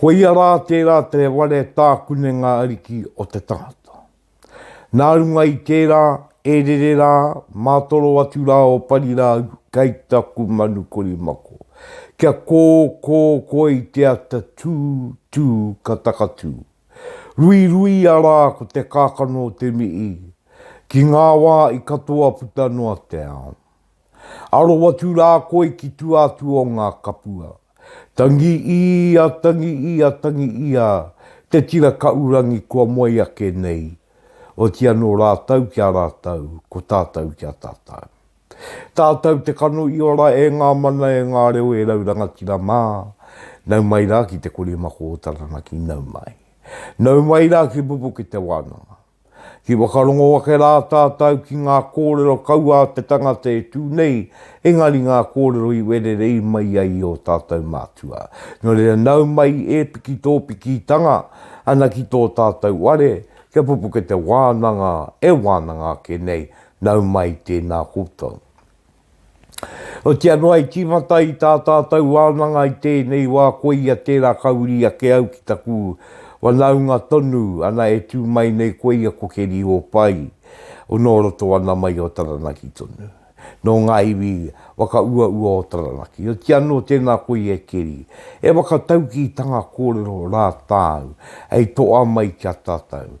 Ko ia rā tērā te ware tākunenga ariki o te tangata. Nā runga i tērā, e rere rā, mātoro atu rā o Parirāu, kei taku manu korimako, kia kō, kō, kō i te ata tū, tū, ka takatū. Ruiruia rā ko te kākano o te mihi, ki ngā wā i katoa puta noa te ao. Aro atu rā koe ki tua atu o ngā kapua. Tangi ia, tangi ia, tangi ia, te tira kaurangi kua moe ake nei, oti anō rātou ki a rātou, ko tātou ki a tātou. Tātou te kano i ora e ngā mana e ngā reo e rau rangatira mā, nau mai rā ki te korimako o Taranaki, nau mai. Nau mai rā ki Pupuketewānanga. Ki whakarongo ake rā tātau ki ngā kōrero kaua a te tangata e tū nei, engari ngā kōrero i wererei mai ai i ō tātau mātua. Nō reira nau mai e piki tō pikitanga ana ki tō tātau ware, kia pupuke te wānanga e wānanga ake nei, nau mai tēnā koutou. Otiia noa i tīmata i tā tātou wānanga i tēnei wā koia tērā ka uri ake au ki taku wanaunga tonu ana e tū mai nei koia ko Keri Ōpai o nō roto ana mai o Taranaki tonu nō ngā iwi whakauaua o Taranaki otiia nō tēnā koia e Keri e whakataukī tanga kōrero rā tāu hei toa mai ki a tātou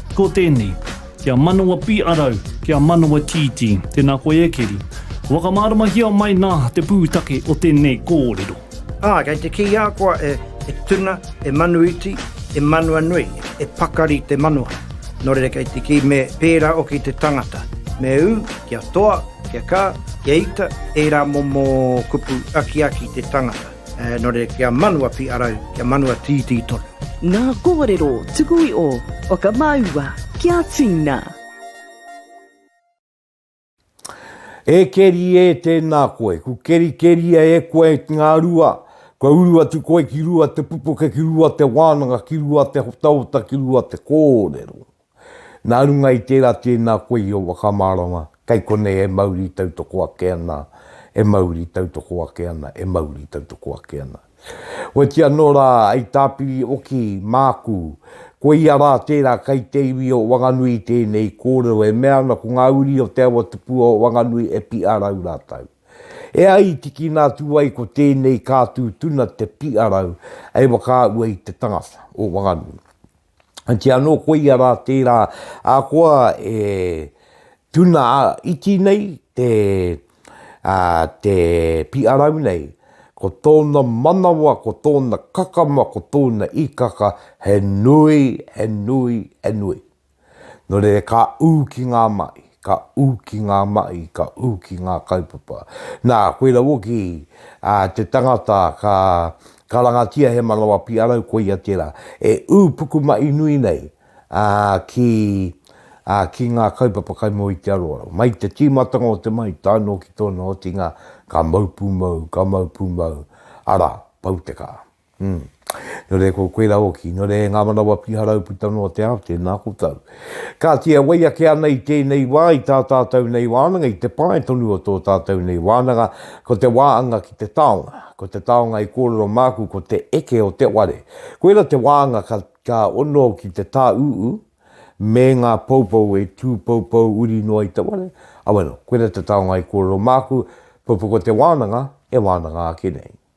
Ko tēnei, Kia manawa pīʻarau, kia manawa tītī. Tēnā koe e Keri. Whakamāramahia mai nā te pūtake o tēnei kōrero. Ā, kei te kī a koa e tuna, e manu iti, e manua nui, e pakari te manoa. Nō reira kei te kī me pērā hoki te tangata, me ū, kia toa, kia kā, kia ita, ērā momo kupu akiaki te tangata. Eh, nore kia manua pi arau, kia manua tītī tonu. Ngā kōrero tuku i o Whakamāua ki a Tina. E keri e tēnā koe, ku kerikeria e koe ki ngā rua, kua uru atu koe ki rua te pupuke, ki rua te wānanga, ki rua te hotaota, ki rua te kōrero. Nā runga i tērā tēnā koe i ō whakamārama, kei konei e mauri tautoko ake ana, e mauri tautoko ake ana, e mauri tautoko ake ana. Oiti anō rā, hei tāpiri oki māku, ko ia rā tērā kei te iwi o Wanganui i tēnei kōrero e mea ana ko ngā uri o Te Awatupua o Wanganui e piʻarau rātou. E ai i tikina atu ai ko tēnei kātū tuna te piʻarau hei whakaahua i te tangata o Wanganui. Anti anō koia rā tērā ahakoa e tuna iti nei te, uh, te piʻarau nei, ko tōna manawa, ko tōna kakama, ko tōna ikaka, he nui, he nui, he nui. Nō reira ka ū ki ngā maʻi. Ka ū ki ngā mahi, ka ū ki ngā kaupapa. Nā, koirā hoki te tangata ka karangatia he manawa piarau, koia tērā e ū pukumahi nui nei ki ngā kaupapa kai mua i te aroaro. Mai i te tīmatanga o te mahi tae noa ki tōna otinga, ka mau pūmau, ka mau pūmau, arā, pau te kaha. Umm. Nō reira ko koirā hoki. Nō reira e ngā manawa piharau puta noa te ao, tēnā koutou. Kāti e wai ake ana i tēnei wā, i tā tātou nei wānanga, i te pae tonu o tō tātou nei wānanga, ko te wāanga ki te taonga. Ko te taonga i kōrero māku ko te eke o te ware. Koirā te wāanga ka, ka ono ki te tāūū me ngā poupou e tū poupou uri noa i te ware. Awero, koirā te taonga i kōrero māku, pupuku o te wānanga e wānanga ake nei.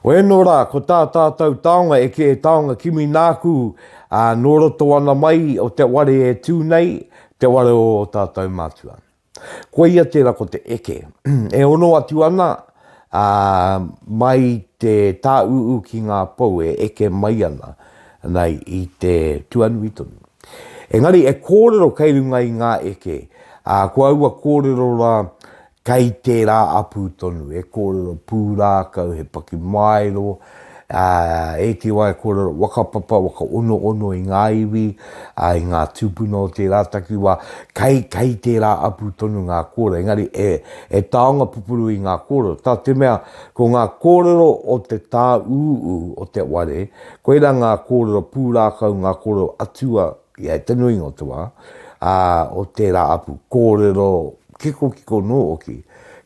Oēnō rā, ko tā tātou taonga eke e taonga kimi nāku, ā, nō roto ana mai o te ware e tū nei, te ware o ō tātou mātua. Koia tērā ko te eke. e ono atu ana, ā, mai te tāūū ki ngā pou e eke mai ana, ana i te tuanui tonu. Engari e kōrero kei runga i ngā eke, ā, ko aua kōrero rā Kei tērā apu tonu, he kōrero pūrākau, he pakimaero, e te wā he kōrero whakapapa, whakaonoono i ngā iwi, i ngā tūpuna o tērā takiwā, kei, kei tērā apu tonu ngā kōrero, engari e, e taonga pupuru i ngā kōrero, tā te mea, ko ngā kōrero o te tāūū o te ware, koirā ngā kōrero pūrākau, ngā kōrero atua Ia e te nuinga o te wā, ā, o tērā apu kōrero kikokiko nō hoki.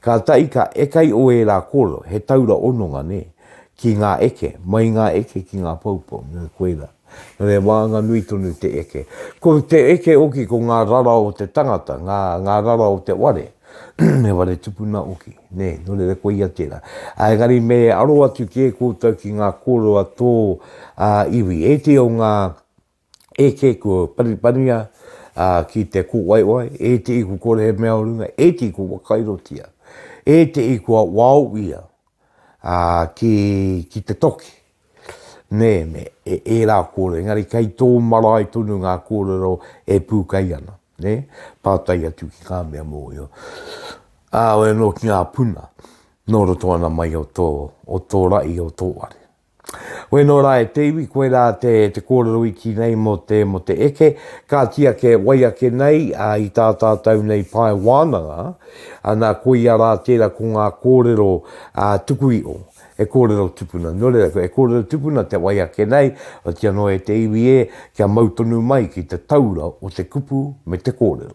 Kātahi ka eka i ō ērā kōrero, he taura ononga, nē, ki ngā eke, mai i ngā eke ki ngā poupou, nō koirā. Nō reira, wānanga nui tonu te eke. Ko te eke hoki, ko ngā rara o te tangata, ngā, ngā rara o te ware, he ware tupuna hoki, nē, nō reira, koia tērā. Ā, engari me aro atu kē koutou ki ngā kōrero a tō, ā, iwi. Ētehi o ngā, E kē, kua panipanihia ki te kōwaiwai, e te i kua kore he mea o runga, e te i kua wakairotia, e te i kua waoia ki, ki te toki. Nē, me e, e rā kōrero, engari kei tō marae tonu ngā kōrero e pūkei ana, nē, pātai atu ki ngā mea mōhio. Ā, wai anō ki ngā puna nō roto ana mai o tō, o tō ra'i, o tō ware. Koe nō rā e te iwi, koe rā te kōrero iti nei mō te, mō te eke, kāti ake, wai ake nei, ā, i tā tātou nei pae wānanga, ā, nā, koia rā tērā ko ngā kōrero, ā, tuku iho, e kōrero tupuna. Nō reira, e kōrero tupuna te wai ake nei, otianō e te iwi ē, kia mau tonu mai ki te taura o te kupu me te kōrero.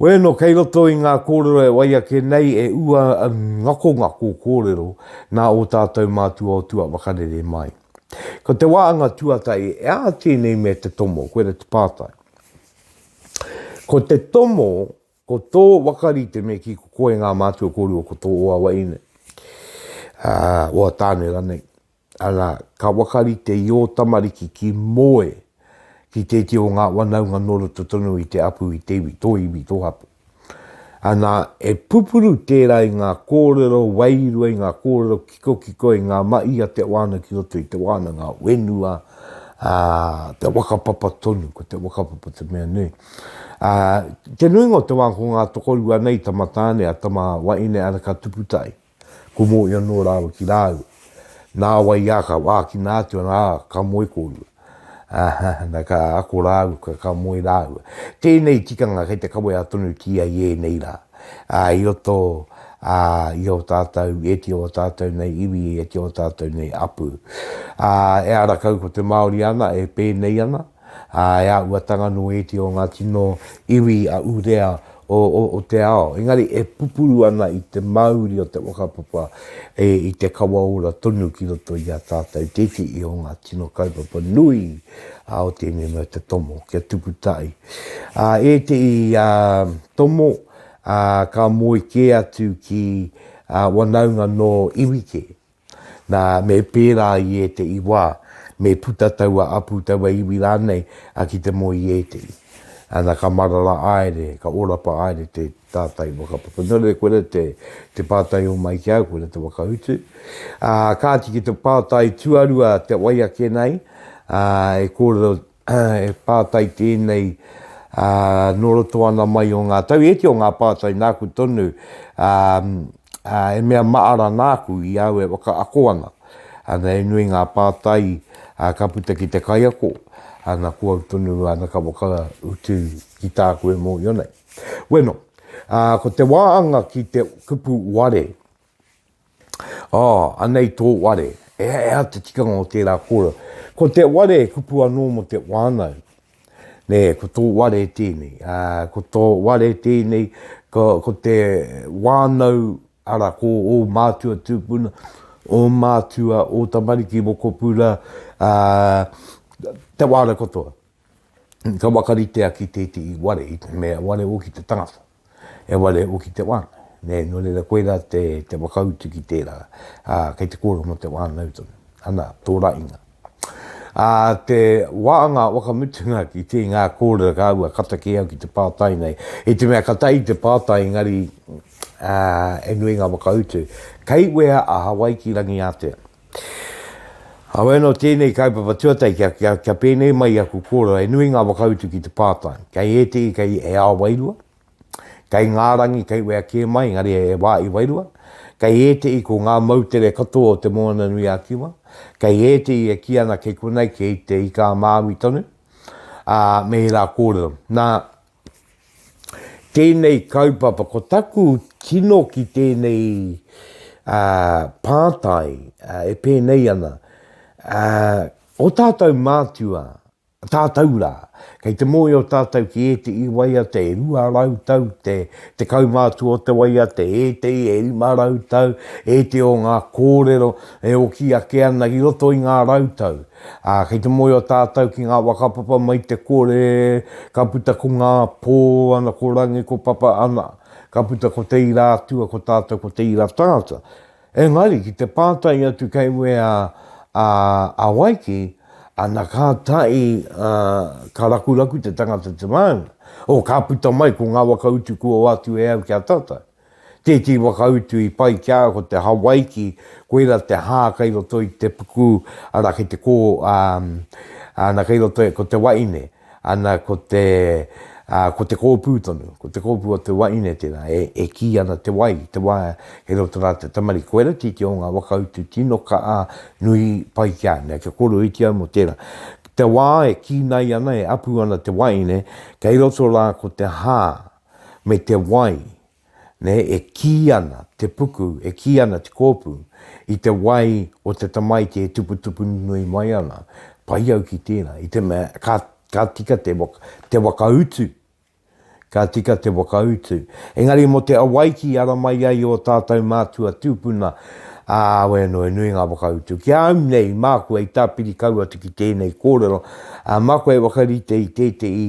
Wēno kei roto i ngā kōrero e wai ake nei e ua ngakongako kōrero nā ō tātou mātua o tua whakarere mai. Ko te wāanga tuatahi e aha tēnei me te tomo, koira te pātai. Ko te tomo, ko tō wakarite me ki ko koe ngā mātua kōrua ko tō o awa ine, uh, o a tāne ranei. Ana, ka wakarite i ō tamariki ki moe ki tēti o ngā wanaunga nō roto tonu i te apu, i te iwi, tō iwi, tō hapū. Ana, e pupuru tērā i ngā kōrero wairua, i ngā kōrero kikokiko, i ngā mahi a te wāna ki roto i te wānanga whenua, ā, te whakapapa tonu, ko te whakapapa te mea nui. Ā, te nuinga o te wā ko ngā tokorua nei, tama tāne, a tama waeine, ana ka tupu tahi. Ko Mohi anō rāua ki rāua. Nā wai ā, ka ākina atu ana, ā, ka moe kōrua. Aha, na ka ako rāua, ka, ka moe rāua. Tēnei tikanga kei te kawea tonutia i ēnei rā. Ā, i roto, ā, i ō tātou, i ētehi o ō tātou nei iwi, i ētehi o ō tātou nei apu. Ā, ehara kau ko te Māori ana e pēnei ana. Ā, e āhuatanga anō ētehi o ngā tino iwi a Urea o te ao, engari e pupuru ana i te mauri o te whakapapa i te kawa ora tonu ki roto i a tātou tētehi o ngā tino kaupapa nui o tēnei mea te tomo, kia tupu tahi. Ā, ētehi tomo ka moe kē atu ki wanaunga nō iwi kē. Nā, me pērā i ēteʻi wā, me puta taua apu, taua iwi rānei, a ki te moe i ēteʻi. Ana, ka marara aere, ka orapa aere te tātai whakapapa. Nō reira, koira te, te pātai o mai ki au, koira te whakautu. Ā, kāti ki te pātai tuarua te wai ake nei, ā, e kōrero He pātai tēnei nō roto ana mai o ngā tau. Ēti o ngā pātai nāku tonu, he mea maara nāku i au e whakaako ana. Ana, he nui ngā pātai ka puta ki te kaiako, ana, ko au tonu ana ka whakautu ki tāku e mōhio nei. Weno, ko te wāanga ki te kupu ware, Oh, anei tō ware. E hea te tikanga o tērā kōrero. Ko te ware e kupu anō mō te wānau. Nē, ko tō ware tēnei. Uh, ko tō ware tēnei, ko, ko te wānau, ara, ko ō mātua tūpuna, ō mātua, ō tamariki mokopuna, uh, te wānau katoa. Ka wakaritea ki tētehi ware, i te mea ware o ki te tangata. He wa re uki te wānau. Nē, nō reira koirā te, te whakautu ki tērā, ā, kei te kōrero mō te wānau tonu. Ana, tō rainga. Ā te wā a ngā wakamutunga ki te ngā kōrero kāua kata kē au ki te pātai nei, i te mea ka tae i te pātai engari, ā, he nui ngā whakautu. Kei wea a Hawaiki-rangi-ātea? Kaua anō tēnei kaupapa tuatahi kia, kia, kia pēnei mai i aku kōrero, he nui ngā whakautu ki te pātai. Kei ētehi, kei he ao wairua, kei ngā rangi, kei wea kē mai, engari he wā i wairua. Kei ētehi ko ngā moutere katoa o Te Moana-nui-a-Kiwa, kei ētehi e kī ana kei konei, kei Te Ika-a-Māui tonu, ā, me ērā kōrero. Nā, tēnei kaupapa, ko taku tino ki tēnei pātai e pēnei ana, o tātou mātua, tātou rā, kei te mōhio tātou ki ēteʻi waiata e rua rau tau te te kaumātua o te waiata, ēteʻi e rima rau tau, ēteʻi o ngā kōrero e oki ake ana i roto i ngā rau tau. Ā, kei te mōhio tātou ki ngā whakapapa mai te kore, ka puta ko ngā pō ana ko Rangi ko Papa ana, ka puta ko Te Ira Atua ko tātou ko Te Ira Tangata. Engari, ki te pātai atu kei wea a, a Waiki, ana ka tae, ā, ka rakuraku te tangata te mānga, o ka puta mai ko ngā waka utu kua wātu e au ki a tātou. Tētī whakautu i pai ki a au ko te Hawaiki, koira te hā kei roto i te puku, ara kei te kō, ā, ana kei roto ko te waine, ana ko te, ā, ko te kōpū tonu, ko te kōpū o te waine tērā e, e kī ana te wai, te wā kei roto rā te tamariki. Koira tētī o ngā whakautu tino kaha nui pai ki a au. Nē, kia kōrerohiti au mō tērā. Te wā e kīnai ana, e apu ana te waine, kei roto rā ko te hā, me te wai, nē, e kī ana te puku, e kī ana te kōpū, i te wai o te tamaiti e tuputupu nui mai ana, pai au ki tērā, i te mea, ka, ka tika te waka, te whakautu, ka tika te whakautu. Engari mō te awaiti i ara mai ai ō tātou mātua tūpuna, ā, awe anō, he nui ngā whakautu. Ki a au nei, māku hei tāpiri kau atu ki tēnei kōrero, ā, māku hei whakarite i tētehi,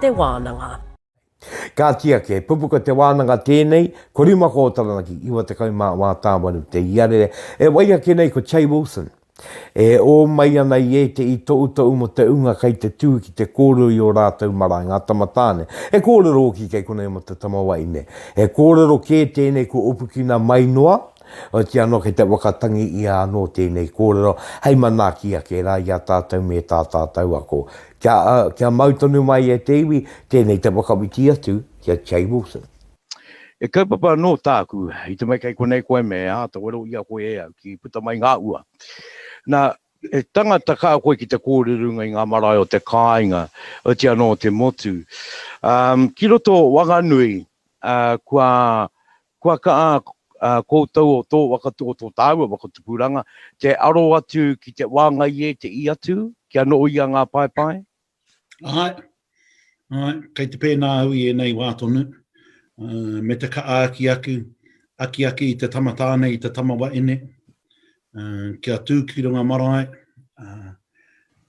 te wānanga. Kāti ake, he pupuka te wānanga tēnei, ko rima ko o Taranaki, iwa tekau mā wā tāwaru te iarere, e wai ake nei ko Che Wilson. E ō mai ana i ētehi toutou mō te ūnga kei te tū ki te kōrero i ō rātou marae, ngā tamatāne. He kōrero hoki kei konei mō te tamawaine. He kōrero kē tēnei kua upukina mai noa, Otiia anō kei te wakatangi ia anō tēnei kōrero hei manaaki ake rā i a tātou me tā tātou ako. Kia, kia mau tonu mai e te iwi, tēnei te whakawhiti atu ki a Che Wilson. He kaupapa anō tāku, i te mea kei konei koe me āta wero i a koe e au ki puta mai ngā ua. Nā, he tangata kā koe ki te kōrero runga i ngā marae o te kāinga, otiia anō o te motu. Um, ki roto o Wanganui, uh, kua Kua kaha koutou o tō waka o tō tāua waka tupuranga te aro atu ki te wāngai e te i atu kia noho ia ngā paepae? Āe, āe, kei te pēnā au i ēnei wā tonu, me te kaha aki aku, aki ake i te tama tāne, i te tama waene, kia tū ki runga marae,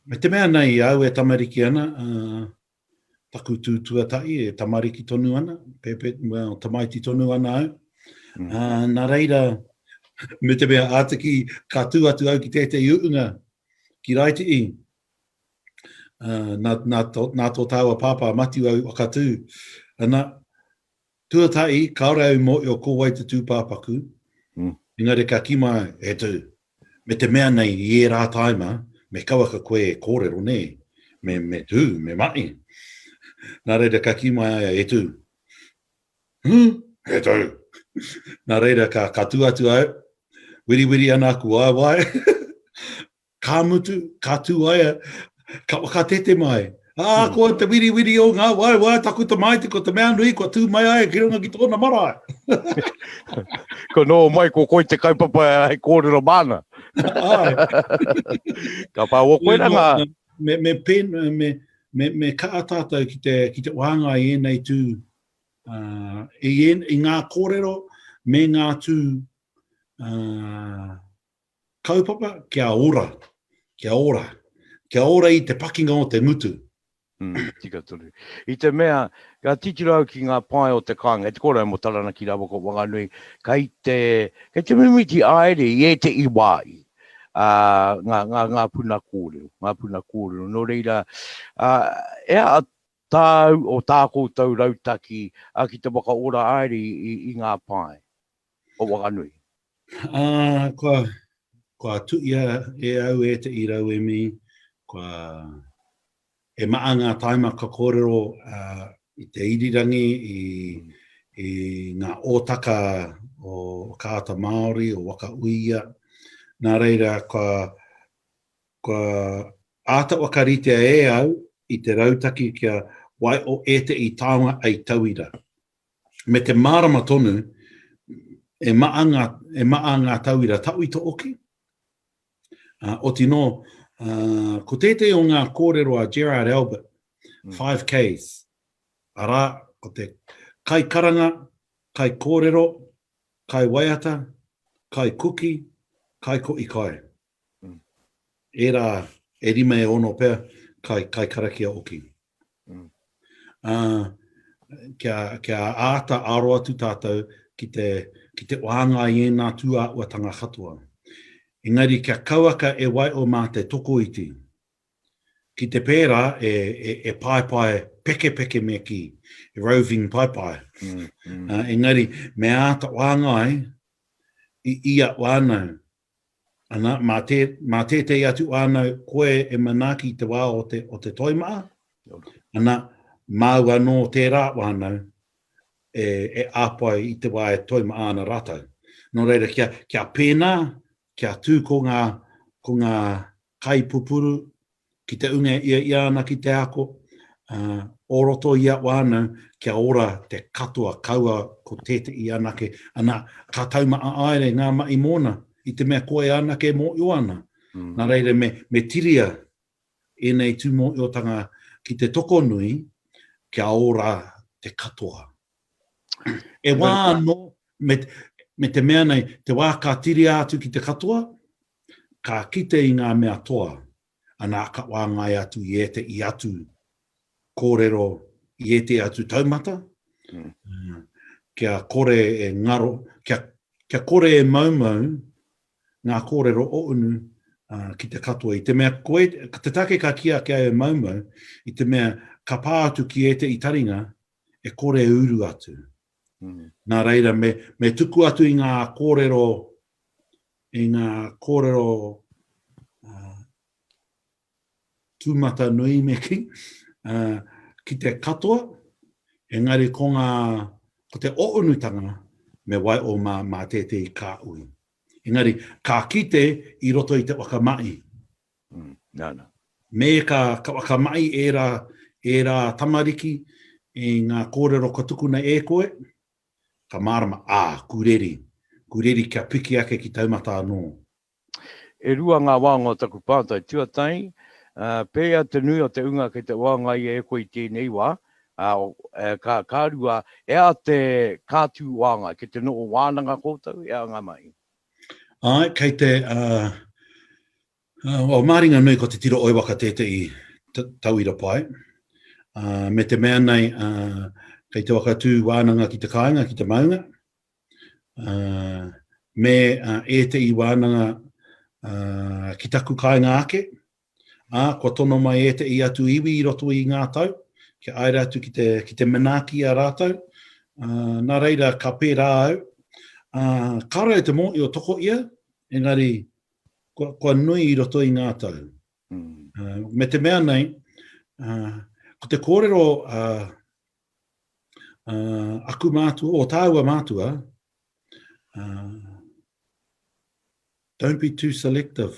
me te mea nei, au e tamariki ana, taku tū tuatahi e tamariki tonu ana, pepe, well, tamaiti tonu ana au. Mm. Uh, nā reira, me te mea ātiki, ka tū atu au ki tētei uunga, ki Raiti'i. Uh, nā, nā, tō, nā tō tāua pāpā, Matiu au, whakatū. Ana, Tuatahi, kāore au i mōhio ko wai te tūpāpaku, engari ka kīma he tū. Me te mea nei, i ērā tāima, me kauaka koe e kōrero, nē, me, me tū, me mahi. Nā reira, ka kī mai a ia, he tū. Hū! He tū! Nā reira, ka, ka tū atu au, wiriwiri ana aku waewae, Ka mutu, ka tu ai, ka whakatete mai. Ā, hmm. koa te wiriwiri o ngā wai, wai taku tamaiti, ko te mea nui, ko tū mai ai ki runga ki tōna marae. ko nō mai, ko koi te kaupapa hei kōrero māna. Ai. ka pā o koe ranga. Me, me, pen, me, me, me ka atātou ki te, ki te wānga i ēnei tū, uh, i, en, i ngā kōrero me ngā tū uh, Kaupapa kia ora, kia ora, kia ora i te pakinga o te ngutu. Mm, tika tonu. I te mea, ka titiro au ki ngā pae o te kāinga, te kōrero mō Taranaki rāua ko Wanganui, kei te, kei te mimiti aere i ētehi wā i uh, ngā, ngā, ngā puna kōrero, ngā puna kōrero. Nō reira, uh, ea a tāu o tā koutou rautaki uh, ki te whakaora aere i, i, i ngā pae? o Wanganui. Ā, kua, kua tuia e au e te i rauemi, kua, he maa ngā taima ka kōrero ā, i te irirangi, i, i ngā ōtaka o Ka Ata Māori, o Waka Uia. Nā reira, kua, kua āta whakaritea e au i te rautaki kia waiho e te i taonga hei tauira. me te mārama tonu e maʻa ngā, e maʻa ngā tauira tauito hoki. Ā, oti nō, ā, ko tētehi o ngā kōrero a Gerard Albert, Five Ks, arā, ko te kai karanga, kai kōrero, kai waiata, kai kuki, kai ko i kai. ērā e rima e ono pea kai, kai karakia oki. Mm. Uh, kia, kia āta aro atu tātou ki te, ki te wānga i ēnā tūāuatanga katoa. Engari kia kauaka e wai o mā te tokoiti, ki te pērā e, e, e paepae pekepeke me ki, e roving paepae. Mm, mm. Uh, engari, me āta wāngai i ia wānau Ana, mā, tē, mā tētei atu whānau koe e manaaki i te wā o te, o te toi maha. Ana, māu anō tērā whānau e, e āpai i te wā e toi maha ana rātou. Nō reira, kia, kia pēnā, kia tū ko ngā, ko ngā kai pupuru, ki te unga e ia ia ana ki te ako, ā, o roto i a wānau, kia ora te katoa, kaua ko tēteʻi anake, ana, ka taumaʻaaere ngā maʻi mōna, i te mea koe anake e mōʻio ana. Nā reira me, me tiria ēnei tūmōʻiotanga ki te tokonui, kia ora te katoa. E wā anō, me, me te mea nei, te wā ka tiria atu ki te katoa, Ka kite i ngā mea toa, anā ka wāngai atu i ēteʻi atu kōrero i ēteʻi atu taumata, kia kore e ngaro, kia, kia kore e maumau ngā kōrero o unu ki te katoa. I te mea koe, ka te take ka kī ake au e maumau, i te mea ka pā atu ki ēteʻi taringa e kore e uru atu. Nā reira, me, me tuku atu i ngā kōrero, i ngā kōrero uh, tūmata nui me ki, uh, ki te katoa, engari ko ngā, ko te ounutanga me wai o mā, mā tētei kā ui. Engari, kā kite i roto i te wakamai, Me ka whakamahi ērā tamariki i ngā kōrero ka tukuna e koe, ka mārama, ā, kureri, kureri kia piki ake ki taumata anō. E rua ngā wānga o taku pātai tuatahi, pēia te nui o te ūnga kei te waangaia e koe i tēnei wā, ā, ka rua, e ā te kātū wānga, kei te noho wānanga koutou, e ā ngā mahi? Ae, kei te, uh, uh, māringa nui ko te tiro oiwaka tētehi tauira pai, uh, me te mea nei, uh, kei te wakatū wānanga ki te kāinga, ki te maunga, uh, me uh, ētehi wānanga uh, ki taku kāinga ake, Ā, kua tono mai ēteʻi atu iwi i roto i ngā tau, kia āira atu ki te, ki te manaaki i a rātou, ā, nā reira ka pērā au, ā, kāore au te mōhio toko ia, engari, kua, kua nui i roto i ngā tau. Ā, me te mea nei, ā, ko te kōrero, ā, ā, aku mātua, o tāua mātua, ā, Don't be too selective.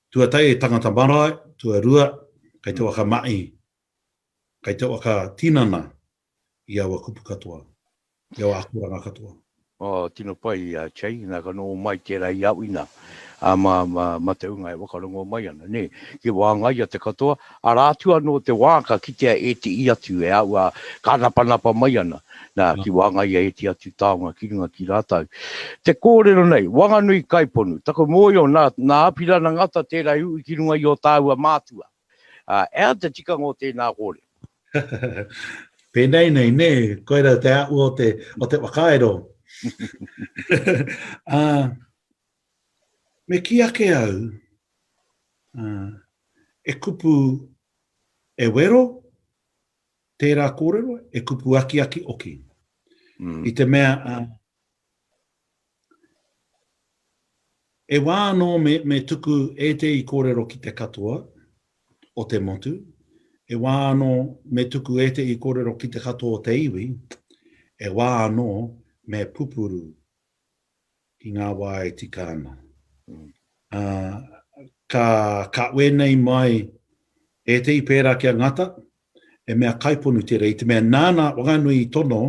Tuatahi he tangata marae, tuarua, kei te waka maʻi, kei te waka tinana i aua kupu katoa, i aua akoranga katoa. Oh, tino pai a Chey, na ka noho mai tera i Awina, a ma, ma, ma te unga e wakarongo mai ana, ne, ki wāngaia te katoa, Arā atu anō te wā ka kitea e te i atu e aua ka napanapa mai ana, nā, ki wāngaia e te atu taonga ki runga ki rātou. Te kōrero nei, Wanganui Kaiponu, taku mōio nā, nā Apirana Ngata tērā i ui ki runga i ō tāua mātua. Ā, e ai te tikanga o tēnā kōrero. Pēnei nei, nē, koirau te āhua o te, o te whakairo. Ā, Me kī ake au, ā, e kupu e wero tērā kōrero, e kupu akiaki oki. I te mea, ā, e wā anō me, me tuku ētehi kōrero ki te katoa o te motu, e wā anō me tuku ētehi kōrero ki te katoa o te iwi, e wā anō me pupuru ki ngā wā e tika ana. Ā, ka, ka wēnei mai ētehi pērā ki a Ngata, he mea kaiponu tērā, i te mea nāna whakanui i tono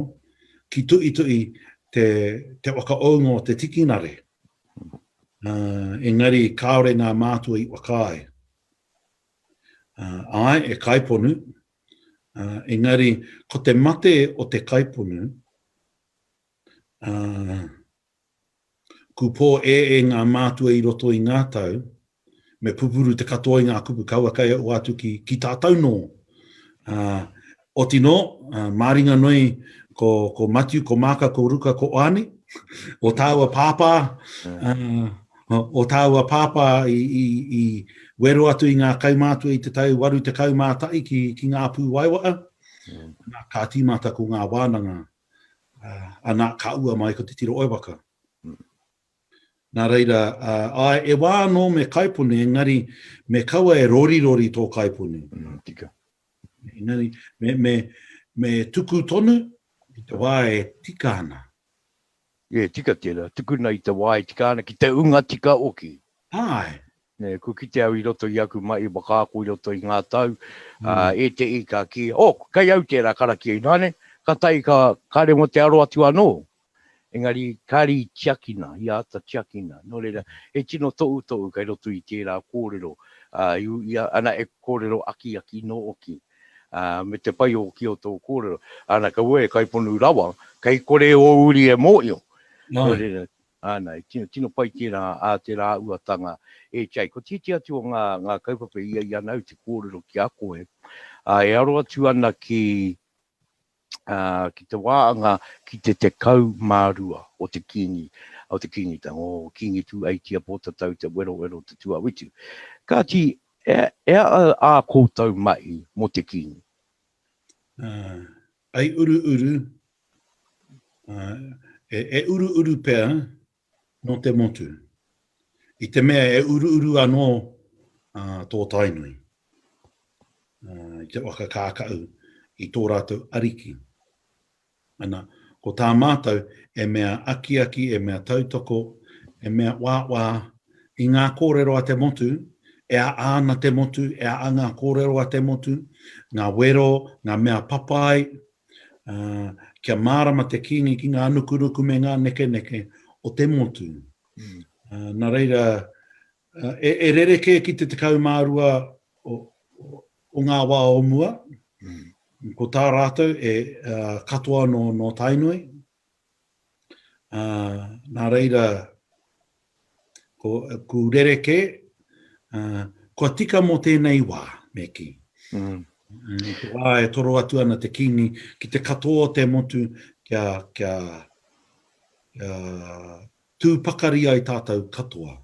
ki tuituhi te, te whakaounga o te tikinare. Ā, engari kāore ngā mātua i whakaae. Ā, āe, e kaiponu, ā, engari ko te mate o te kaiponu, Ā, ku pō e e ngā mātua i roto i ngā tau, me pupuru te katoa i ngā kupu kaua kai au atu ki, ki tātou nō. Ā, oti nō, ā, māringa noi ko, ko Matiu, ko Māka, ko Ruka, ko Oani, o tāua pāpā, ā, o, o tāua pāpā i, i, i wero atu i ngā kaumātua i te tau 81 ki, ki ngā pū waiwaa, nā, ka tīmata ko ngā wānanga Ana, ka ua mai ko Te Tiro o Waka. Nā reira, āe, e wā anō me kaipuni, engari me kaua e rorirori tō kaipuni. Tika. Engari, me, me, me tuku tonu, i te wā e tika ana. E tika tera, tukuna i te wa e tika ana ki te unga tika oki. Ae. Ne, kua kite au i roto i aku mahi whakaako i roto i nga tau, a, e te i ka ki, oh, kei au tera karakia i nane, ka tae ka, ka remo te aro atu ano. Engari, kari i tiakina, i ata tiakina. No reira, he tino toutou kei roto i tera korero, a, i, i, ana e korero akiaki no oki. ā, me te pai ōki o tō kōrero. Ana, kaua e kaiponu rawa, kei kore ō uri e mōhio. Nō reira, ana, tino, tino pai tērā ā te rāuatanga e Jake. Ko tētehi atu o ngā, ngā kaupapa i a i a nāu te kōrero ki a koe, ā, e aro atu ana ki, ki te waanga ki te 12 o te Kingi, o te Kingitanga, o Kingi Tūeitia Pōtatau Te Werowero Te Tuawitu. Kāti, e aha ā koutou mahi mō te Kingi? Ai uruuru, e uruuru pea Nō te motu. I te mea e uruuru anō tō Tainui i te waka kākaʻu i tō rātou ariki. Ana, ko tā mātou e mea akiaki, e mea tautoko, e mea wāwā i ngā kōrero a te motu, e aha ana te motu, e aha ngā kōrero a te motu, ngā wero, ngā mea papai, Ā, kia mārama te kīngi ki ngā nukunuku me ngā nekeneke o te motu. Ā, nā reira, e, e rerekē ki te tekau mā rua o, o, o ngā wā o mua, ko tā rātou e, ā, katoa nō, nō Tainui, Ā, nā reira, ko, ku rerekē, ā, kua tika mō tēnei wā, me kī. Mm. I te wā e toro atu ana te kīngi ki te katoa o te motu kia, kia, kia tū pakari ai tātou katoa.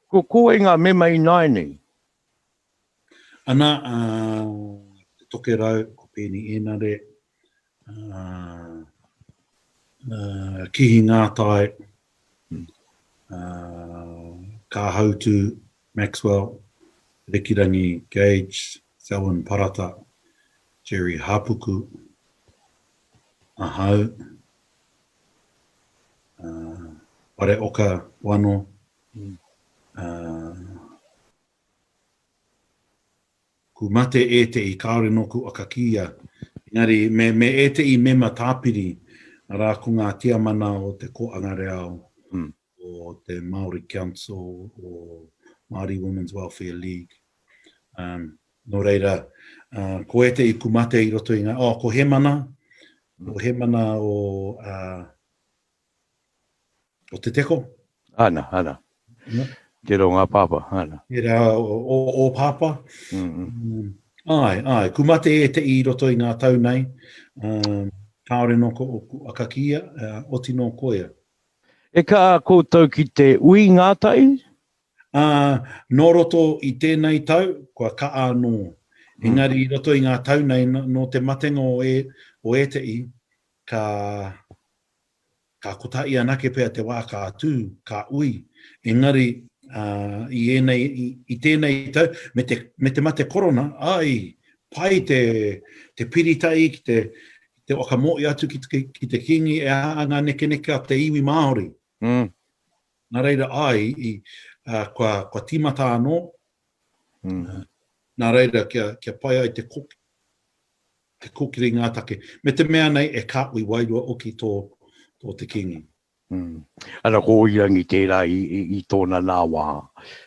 Ko, ko wai ngā mema ināianei? Ana a Te Tokerau, ko Peeni Enare, Kihi Ngātai, Kāhautu, Maxwell, Rekirangi, Gage, Selwyn Parata, Gerry Hāpuku, ahau, Whareoka, Wano, Ku mate ētehi kāore nōku aka kīia, engari me me ētehi mema tāpiri, arā ko ngā tiamana o te Kōanga Reao, o te Māori Council, o Māori Women's Welfare League. Um, nō reira, uh, ko ētehi ku mate i roto i ngā, oh, ko Hemana, ko Hemana o, uh, O te teko. Ana, ana. Yeah. Tērā o ngā pāpā, ana. Tērā o, o, o pāpā. Mm -hmm. um, ai, ai, kumate e te i roto i ngā tau nei. Um, kāore nō ko, ko akakia, uh, oti nō koia. E kā koutou ki te ui ngātai? Ā, nō roto i tēnei tau, kua ka anō. Hmm. Engari i roto i ngā tau nei, nō te matenga o, e, o ēteʻi, ka, Ka kotahi anake pea te wā ka tū, ka ui, engari i ēnei, i tēnei tau, me te, me te mate korona, āe, pai te, te piritahi ki te, ki te whakamōhio atu ki te, ki te Kīngi e āa ngā nekeneke a te iwi Māori. Mm. Nā reira, āe, i, ā, kua, kua tīmata anō, Mm. nā reira, kia, kia pai ai te koke. Te kōkiri ngā take. Me te mea nei e kāhui wairua oki tō te kīngi. Mm. Ana ko Oirangi tērā i, i, i tōna nā wā.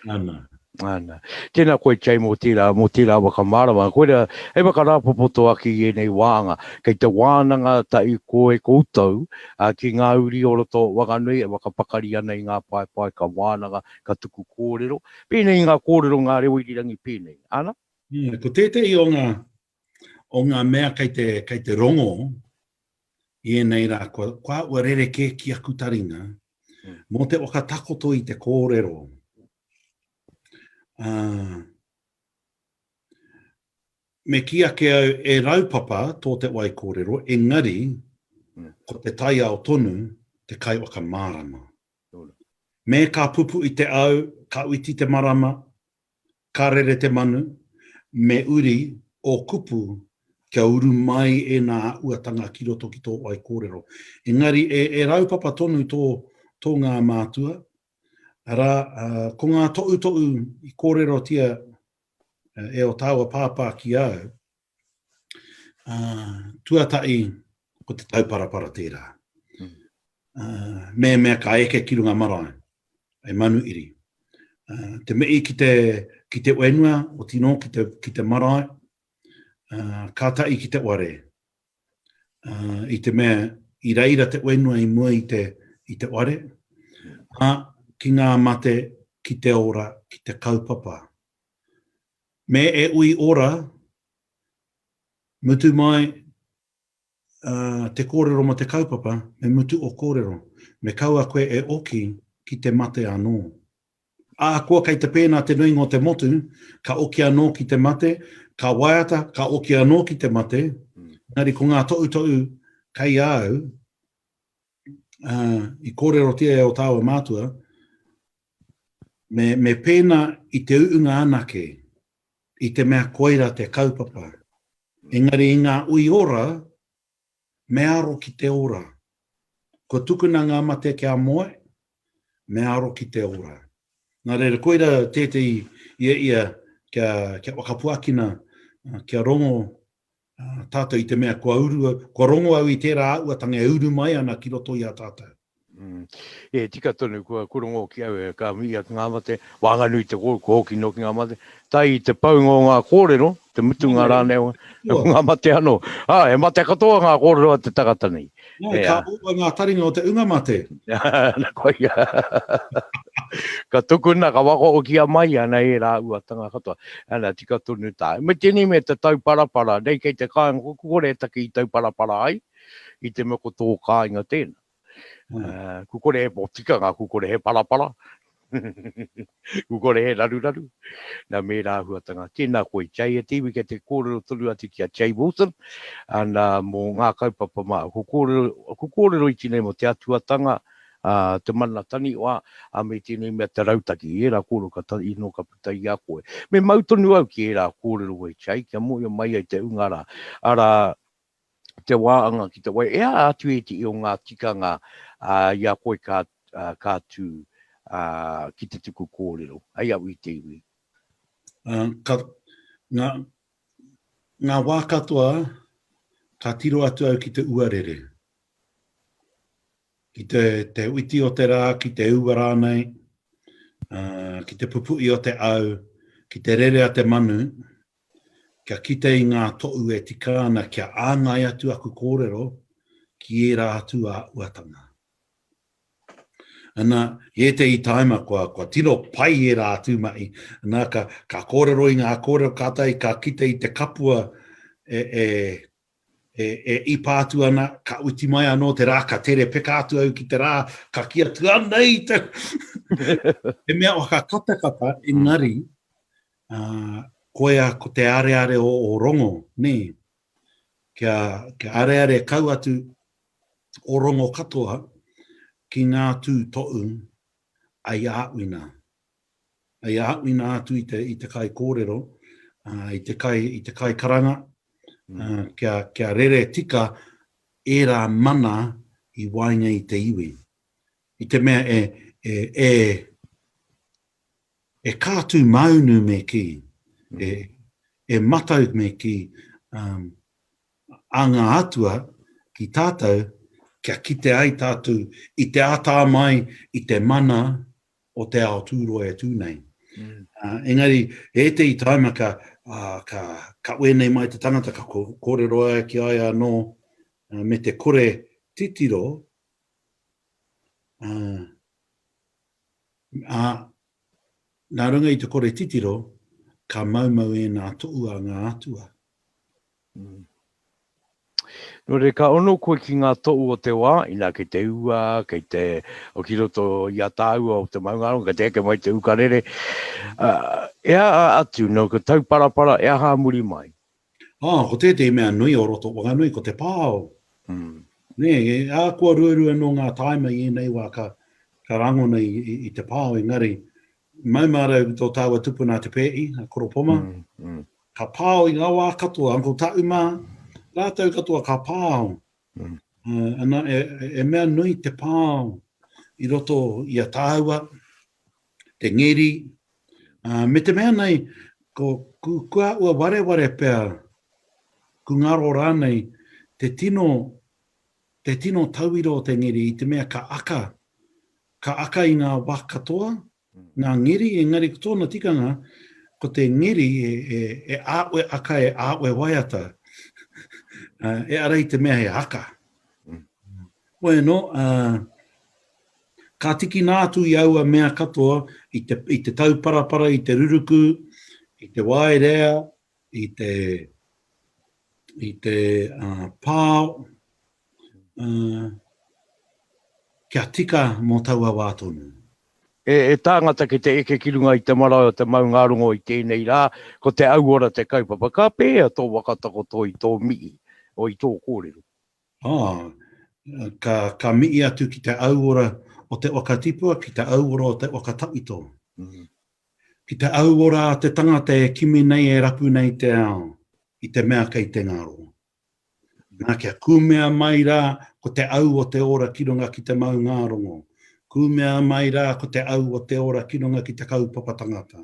Ana. Ana. Tēnā koe, Jay, mō tērā, mō tērā whakamārama. Koe rea, hei whakarāpopoto ake i ēnei wāanga. Kei te wānanga ta i koe koutou a, ki ngā uri o roto Wanganui e whakapakari ana i ngā paepae ka wānanga, ka tuku kōrero. Pēnei i ngā kōrero ngā reo irirangi pēnei. Ana? Mm, ko tētehi o ngā o ngā mea kei te, kei te rongo i ēnei rā, kua, kua ua rere kē ki aku taringa, mm. mō te whakatakoto i te kōrero. Uh, me ki ake au e raupapa tō te wai kōrero, engari, mm. ko te taiao tonu te kai whakamārama. Me ka pupu i te au, ka uiti te marama, Ka rere te manu, me uri ō kupu kia uru mai ēnā uatanga ki roto ki tō whaikōrero. Engari, e raupapa tonu tō ngā mātua, arā, ko ngā toʻutoʻu i kōrerotia e ō tāua pāpā ki au, Uh, tuatahi, ko te tauparapara tērā. Mm. Uh, me mea ka eke ki runga marae, e manu iri. Uh, te mei ki te, ki te wenua, o tino ki te, ki te marae, uh, ka tai ki te ware. Uh, I te mea, i reira te wenua i mua i te, i te ware, a ki ngā mate, ki te ora, ki te kaupapa. Me e ui ora, mutu mai te kōrero mō te kaupapa, me mutu o kōrero, me kaua koe e oki ki te mate anō. Ahakoa kei te pēnā te nuinga o te motu, ka oki anō ki te mate, ka waiata, ka oki anō ki te mate, engari ko ngā toʻutoʻu kei a au, i kōrerotia e ō tāua mātua, me, me pēnā i te uunga anake, i te mea koira te kaupapa. Engari i ngā ui ora, me aro ki te ora. Kua tukuna ngā mate kia moe, me aro ki te ora. Nā reira, koira tētei ia ia kia, kia whakapuakina, kia rongo Tātou i te mea kua uru au, kua rongo au i tērā āhuatanga e uru mai ana ki roto i a tātou. E tika tonu kua rongo ki au e ka mihi atu ngā mate, waenganui te kōrero, kua hoki noa ki ngā mate, tae i te paunga o ngā kōrero, te mutunga rānei o ngā mate anō. He mate katoa ngā kōrero a te tangata nei. Nē, Nē, ka ā. ōa ngā taringa o te unga mate. Nā koia. ka tukuna, ka wakaokia mai ana e rāua tanga katoa. Ana, tika tonu tāu. Me tēnei me te tauparapara, nei kei te kāinga, ko kore e taki i tauparapara ai, i te mea ko tō kāinga tēnā. Mm. Uh, ku kore he po tikanga, ku kore he parapara. Kua kore he raruraru. Nā mēra āhuatanga. Tēnā koe i te ai e te iwi kei te kōrero tonu atu ki a Jay Wilson, ana mō ngā kaupapa mā. Ko kōrero, ko kōrero iti nei mō te atuatanga, ā, te mana taniwha, ā, me tēnei mea te rautaki. I ērā kōrero ka ta, i noa ka puta i a koe. Me mau tonu au ki ērā kōrero e Jay kia mōhio mai ai te ūnga rā, arā, te wāanga ki te wai, e aha atu e te i o ngā tikanga i a koe ka, ka tū ki te tuku kōrero, hei au i te iwi? Uh, ka, ngā, ngā wā katoa, ka tiro atu au ki te uarere. Ki te, te witi o te rā, ki te ua rānei, uh, ki te pupu'i o te au, ki te rere a te manu, Kia kite i ngā toʻu e tika ana kia āngai atu aku kōrero ki ērā atu āhuatanga. Ana, i ētehi tāima kua tino pai ērā atu mahi, ana, ka kōrero i ngā kōrero kātahi ka kite i te kapua e E, e ipa atu ana, ka uti mai anō te rā, ka tere peka atu au ki te rā, ka ki atu ana i te... He mea o hakatakata, engari, uh, koia ko te areare o, o rongo, nē. Kia, kia areare kau atu o rongo katoa ki ngā tū toʻu ai āwina. Hei aha, ina atu i te, i te kai kōrero, i te kai, i te kai karanga, kia, kia rere tika ērā mana i waenga i te iwi. I te mea e, e, e, e kātū maunu me ki, e, e matau me ki um, a ngā atua ki tātou, kia kite ai tātou i te ātā mai, i te mana, o te ao tūroa e tū nei. Engari, ētehi tāima ka, ka, ka wēnei mai te tangata, ka kōrero ai ki ai anō, me te kore titiro, uh, uh, nā runga i te kore titiro, ka maumau e nā toua ngā atua. Nō reira, ka ono koe ki ngā toʻu o te wā, inā kei te ua, kei te, o ki roto i a tāua o te maungārongo, kei te eke mai te ukarere, e aha atu, nō ko Tauparapara, e aha a muri mai? Ā, ko tētehi mea nui o roto o Wanganui, ko te pao. Nē, e ākua ruarua nō ngā tāima i ēnei wā ka, ka rangona i, i te pao, engari, Mau mātou ki tō tāua tupuna a Te Pēhi, a Koro Poma. Ka pāo i ngā wā katoa, Uncle Taʻu mā, rātou katoa ka pāo. Ana, e mea nui te pāo i roto i a tāua, te ngeri, me te mea nei, ko kua ua wareware pea, ku ngaro rānei, te tino, te tino tauira o te ngeri i te mea ka aka, Ka aka i ngā wa katoa, ngā ngeri, engari ko tōna tikanga, ko te ngeri e āwe aka, e āwe waiata, e ara i te mea he haka. Hoi anō, ka tikina atu i aua mea katoa, i te tauparapara, i te ruruku, i te waerea, i te pao, kia tika mō taua wā tonu. E tāngata ki te eke ki runga i te marae o te maungārongo i tēnei rā, ko te auora te kaupapa. Ka pēhea tō waka takoto i tō mihi, o i tō kōrero? Oh, ka, ka mihi atu ki te auora o te waka tipua, ki te auora o te waka tawhito. Mm. Ki te auora a te tangata e kimi nei, e rapu nei te ao, i te mea kei te ngaro. Nā, kia kūmea mai rā ko te au o te ora ki runga ki te maungārongo, kūmea mai rā ko te au o te ora ki runga ki te kaupapa tangata.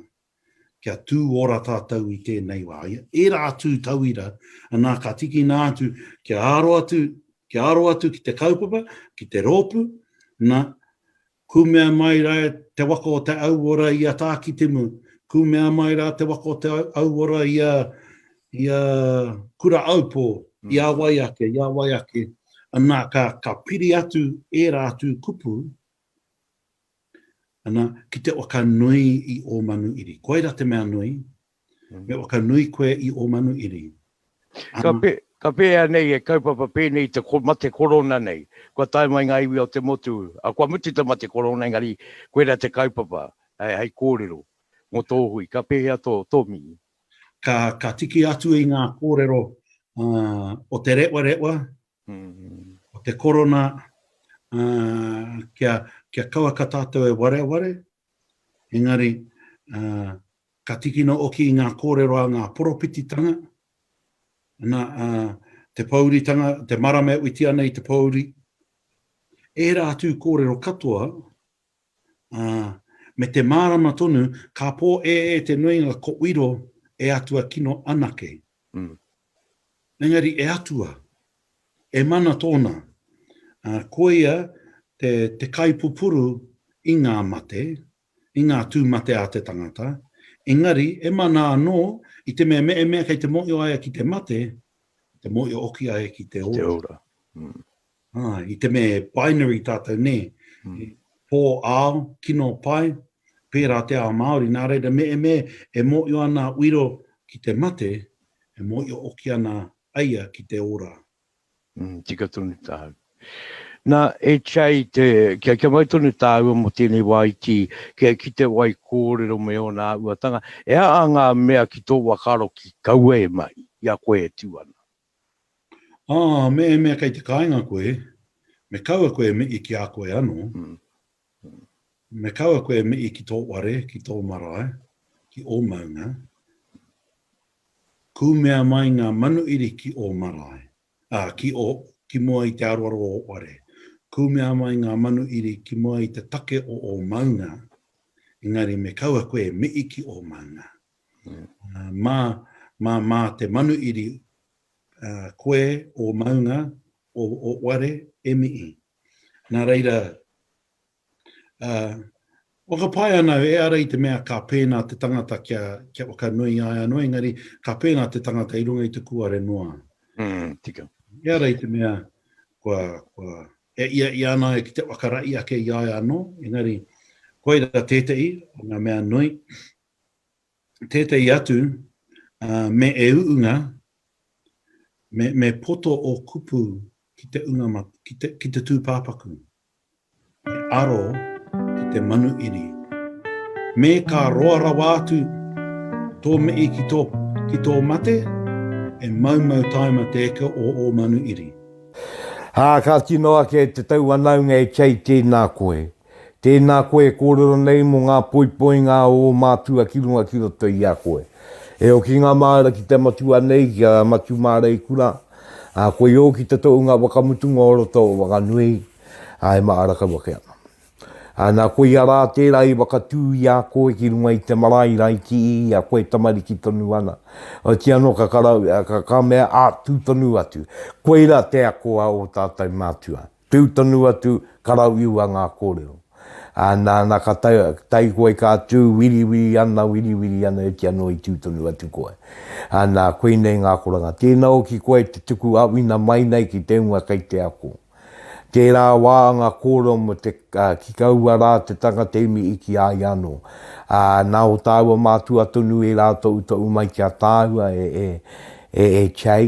Kia tū ora tātou i tēnei wā. Ērā atu tauira, anā, ka tīkina atu kia aro atu, kia aro atu ki te kaupapa, ki te rōpū, nā, Kumea mai ra te waka o te auora i a Tākitimu, kumea mai ra te waka o te auora i a, i a Kura-aupō, i a wai ake, i a wai ake. Anā, ka, ka piri atu ērā atu kupu, anā, ki te waka nui i Ōmanuiri. Koira te mea nui, Me whakanui koe i o Manuiri. Ka, pe, ka pēhea nei e kaupapa pēnei te ko, mate korona nei? Kua tae mai ngā iwi o te motu, a kua mutu te mate korona, engari koera te kaupapa, hei, hei kōrero mō tō hui. Ka pēhea tō, tō mii? Ka, ka tiki atu i ngā kōrero uh, o te rewarewa, mm. o te korona, uh, kia, kia kaua ka tātou e wareware, engari uh, Ka tīkina hoki i ngā kōrero a ngā poropititanga, ana, ā, te pōuritanga, te marama e whiti ana i te pōuri, ērā atu kōrero katoa, ā, me te mārama tonu, ka pō ē ē te nuinga ko Wiro e Atua kino anake. Engari e Atua, e mana tōna, ā, koia te, te kaipupuru i ngā mate, i ngā tū mate a te tangata, engari e mana anō i te mea me mea kei te mōhio aia ki te mate, te mōhio hoki aia ki te ora. Ki te ora. Mm. Ah, i te mea binary tātou nē, mm. pō ao, kino pai, pērā te ao Māori, nā reira me e me e mōhio ana uiro ki te mate, e mōhio hoki ana aia ki te ora. Mm, tika tonu tāu. Na, e Chai, te, kia, kia mai tonu tāua mo tēnei wā i tī, kia ki te wai kōrero me ōna āuatanga, e a a ngā mea ki tō wakaro ki kaua e mai, i a koe e tū ana. Ah, me e mea kei te kāinga koe, me kaua koe me i ki a koe anō. Mm. Me kaua koe e mihi ki tō ware, ki tō marae, ki ō maunga. Kūmea mai ngā manuiri ki ō marae, ā, ki ō, ki mua i te aroaro o ō ware. Kūmea mai ngā manuiri ki mua i te take o ō maunga, engari me kaua koe e mihi ki ō maunga. Mā, mā, mā te manuiri, ā, koe, ō maunga, ō, ō ware, e mihi. Nā reira, ā, whakapae ana au ehara i te mea ka pēnā te tangata kia, kia whakanuia ai anō, engari ka pēnā te tangata i runga i te kūare noa. Mm, tika. Ehara i te mea kua, kua e ia ia ana ai ki te whakarahi ake i a ia anō, engari koira tētehi o ngā mea nui. tētehi atu, ā, me e uunga, me, me poto ō kupu ki te unga ma, ki te, ki te tūpāpaku. Me aro ki te manu iri. Me ka roa rawa atu tō mihi ki tō, ki tō mate, e maumau taima te eke o ō manu iri. Ā, ka tino ake te tau whanaunga e kei tēnā koe. Tēnā koe e kōrero nei mō ngā poipoinga a ō mātua ki runga ki roto i a koe. E hoki ngā māra ki te matua nei, ki a Matumāreikura, ā, koe ō ki te tohunga whakamutunga o roto o Wanganui, ā, e māra kau ake ana. Ā, nā koia rā tērā i whakatū i a koe ki runga i te marae rā i kī i a koe tamariki tonu ana, otirā anō ka, ka mea, ā, tū tonu atu. Koirā te ako a ō tātou mātua. Tiu tonu atu, karauiua ngā kōrero. Ā, nāna ka tae, tae koe ka tū, wiriwiri ana, wiriwiri ana, oti anō i tū tonu atu koe. Ā, nā, koinei ngā akoranga. Tēnā hoki koe te tuku āwhina mai nei ki te hunga kei te ako. Tērā wā ngā kōrero mō te, ā, ki kaua rā te tangata imi i ki a ia anō. Ā, nā, o tāua mātua tonu ērā toʻutoʻu mai ki a tāua e, e, e, e Che.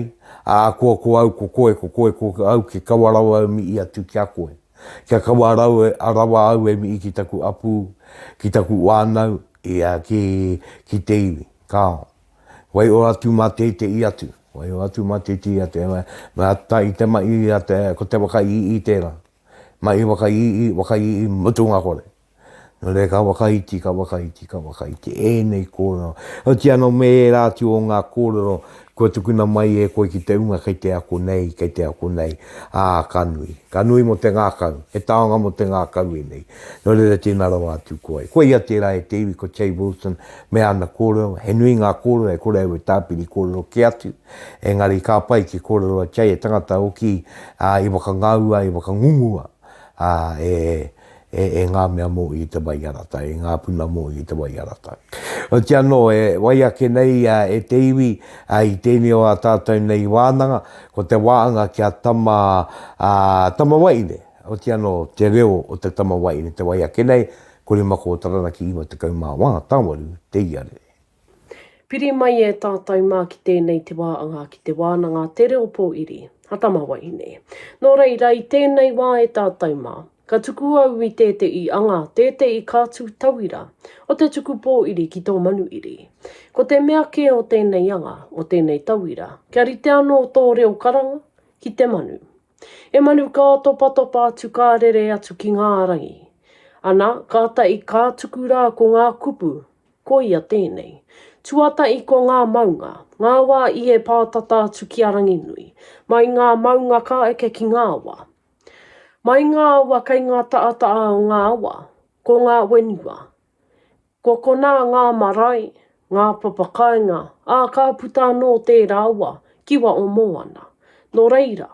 Ā, koa ko au ko koe, ko koe ko au kia kawa rawa au mi i atu ki a koe. Kia kawa rawa au e mi i ki taku apu, ki taku wānau, ia, ki, ki te iwi. Kāo. Waiho atu mā te te i atu. Waiho atu mā te te i atu. He mea, mea ta i te ma i a te, ko te waka i i tērā. Mahi whakaiihi, whakaiihi mutunga kore. Nō reira ka whakaiti, ka whakaiti, ka whakaiti ēnei kōrero. Otiia anō me ērā atu o ngā kōrero kua tukuna mai e koe ki te hunga kei te ako nei, kei te ako nei, ā, ka nui. Ka nui mō te ngākau, he taonga mō te ngākau ēnei. Nō reira tēnā rawa atu koe. Koia tērā e te iwi ko Che Wilson me ana kōrero. He nui ngā kōrero e kore au e tāpiri kōrero kē atu. Engari ka pai ki kōrero a Jay e tangata hoki i whakangāua, i whakangungua e ngā mea mōu i te waiarata, i ngā puna mōu i te waiarata. Otiia anō, e wai ake nei e te iwi i tēnei o ā tātou nei wānanga, ko te waanga kia tama tamawaine, otiia anō te reo o te tamawaine te wai ake nei, ko Rimakō Taranaki 51, tāwaru te ia rere. Piri mai e tātou mā ki tēnei te wāanga, ki te wānanga Te Reo Pōiri, Hatama Wahine. Nō reira, i tēnei wā e tātou mā, ka tuku au i tēteʻi anga, tēteʻi kātū tauira o te tuku pōiri ki tō Manuiri. Ko te mea kē o tēnei anga, o tēnei tauira, kia rite anō tō reo karanga ki te manu. He manu ka topatopa atu ka rere atu ki ngā rangi. Ana, kātaʻi ka tuku rā ko ngā kupu, Ko ia tēnei. Tuatahi ko ngā maunga, ngā wā i e pātata atu ki a Ranginui, mai ngā maunga ka eke ki ngā awa. Mai ngā awa kei ngā taʻataʻa o ngā awa, ko ngā whenua. Ko konā ngā marae, ngā papa kāinga, ā, ka puta anō tērā awa, kiwa o Moana. Nō reira,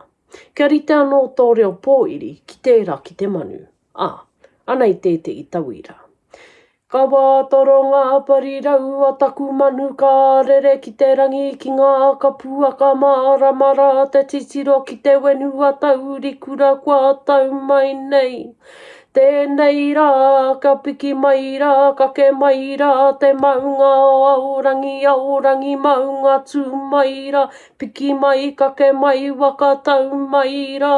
kia rite anō tō reo pōiri ki tērā ki te manu. Ā, ana i tētehi tauira. Ka wātoro ngā parirau a taku manu ka rere ki te rangi ki ngā kapua ka mārama rā te titiro ki te whenua taurikura kua tau mai nei. Tēnei rā, ka piki mai rā, kake mai rā te maunga o Aorangi, Aorangi maunga tū mai rā, piki mai, kake mai, waka tau mai rā.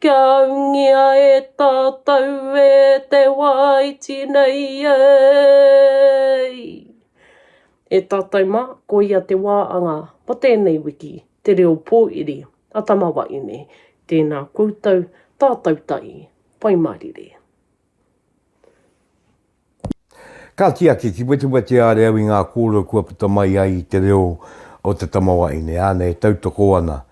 Kia aungia e tātou e te wā iti nei ei! E tātou mā, koia te wā anga mō tēnei wiki, Te Reo Pōiri a Tama Waeine. Tēnā koutou, tātou tahi, Pai Mārire. Ka tiaki ki wetiweti a Reau i ngā kōrero kua puta mai ai i te reo o te tamawaine, āna e tautoko ana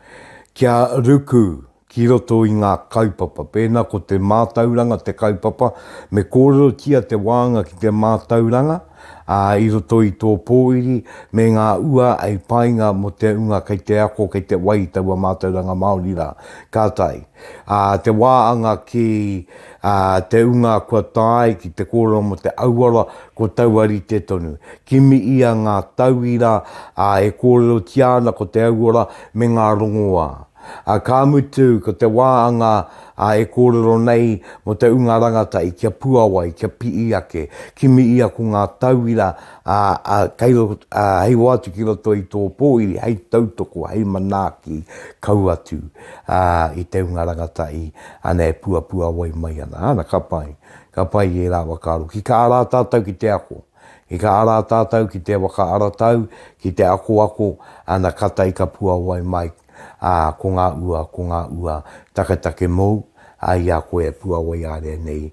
kia ruku ki roto i ngā kaupapa. Pēnā ko te mātauranga te kaupapa, me kōrerotia te wānga ki te mātauranga, ā, i roto i tō pōiri me ngā ua hei painga mō te hunga kei te ako, kei te wai i taua mātauranga Māori rā. Ka tae. Ā te wā anga ki Ā, te ūnga kua tae ki te kōrero mō te auara, ko taua rite tonu. Kimi ia ngā tauira, ā, e kōrerotia ana ko te auara me ngā rongoā. Ā, ka mutu, ko te wā anga, ā, e kōrero nei mō te ūnga rangatahi kia puawai, kia piʻi ake. Kimi ia ko ngā tauira, ā, hei roa atu ki roto i tō pōuri, hei tautoko, hei manaaki kau atu i te hunga rangatahi āna e puapuawai mai ana. Āna, ka pai, ka pai i ērā waka aro. Ki ka ara tātou ki te ako, ki ka ara tātou ki te waka aratau, ki te akoako, āna, kātahi ka puawai mai, ā, ko ngā ua, ko ngā ua taketake mōu, ā, i a koe e puawai ārea nei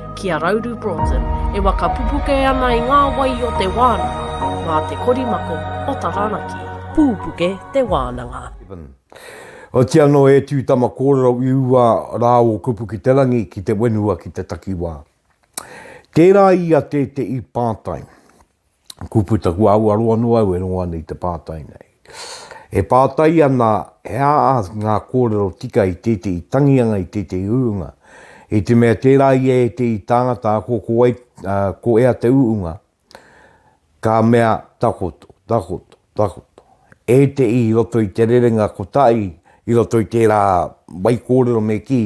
Ki a Rauru Broughton, e waka pupuke ana i ngā wai o te wānanga, mā te korimako o Taranaki. Pupuke te wānanga. Oati anō e tū tama kōrero i ua rā o Kupu ki te Rangi ki te wenua ki te takiwā. Tērā ia tēteī pātai. Kua puta, kua aruaro anō au e rongo ana i te pātai nei. E pātai ana he aha ngā kōrero tika i tētehi tangianga, i tētehi urunga, i te mea tērā i ētehi tāngata ako ko, wai, uh, ko ea te urunga, ka mea takoto, takoto. Takoto. Ētehi i roto i te rerenga kotahi, i roto i tērā whaikōrero me kī,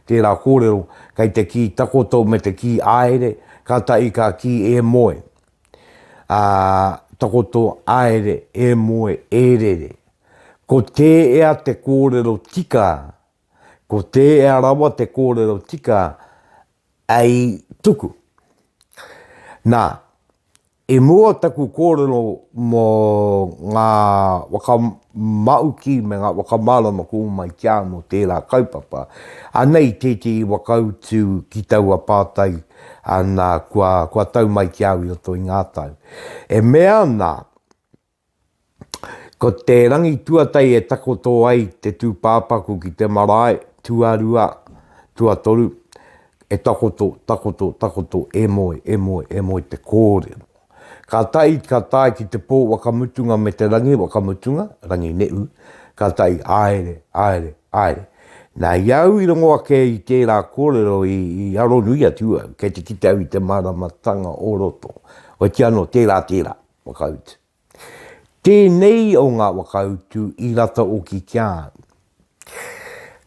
tērā kōrero, kei te kī takoto me te kī āere, kātahi ka kī e moe, ā, takoto, āere, e moe, e rere. Ko tēea te kōrero tika, ko tēea rawa te kōrero tika, ei tuku. Nā, I mua taku kōrero mō ngā whakamāuki me ngā whakamārama ko mai ki a anō tērā kaupapa, anei tētehi waka utu ki taua pātai nā kua tau mai ki au i roto i ngā tau. E mea ana Ko te rangi tuatai e takoto ai te tūpāpaku ki te marae, tuarua, tuatoru, e takoto, takoto, takoto, e moe, e moe, e moe te kōrero. Ka tae, ka tae ki te pō wakamutunga me te rangi wakamutunga, rangi neʻu, ka tae, āere, āere, āere. Nā, i a au i rongo ake i tērā kōrero i, i aro nui atu au, kei te kite au i te māramatanga o roto. Otiano, tērā, tērā, Whakautu. Tēnei o ngā whakautu i rata oki ki a au.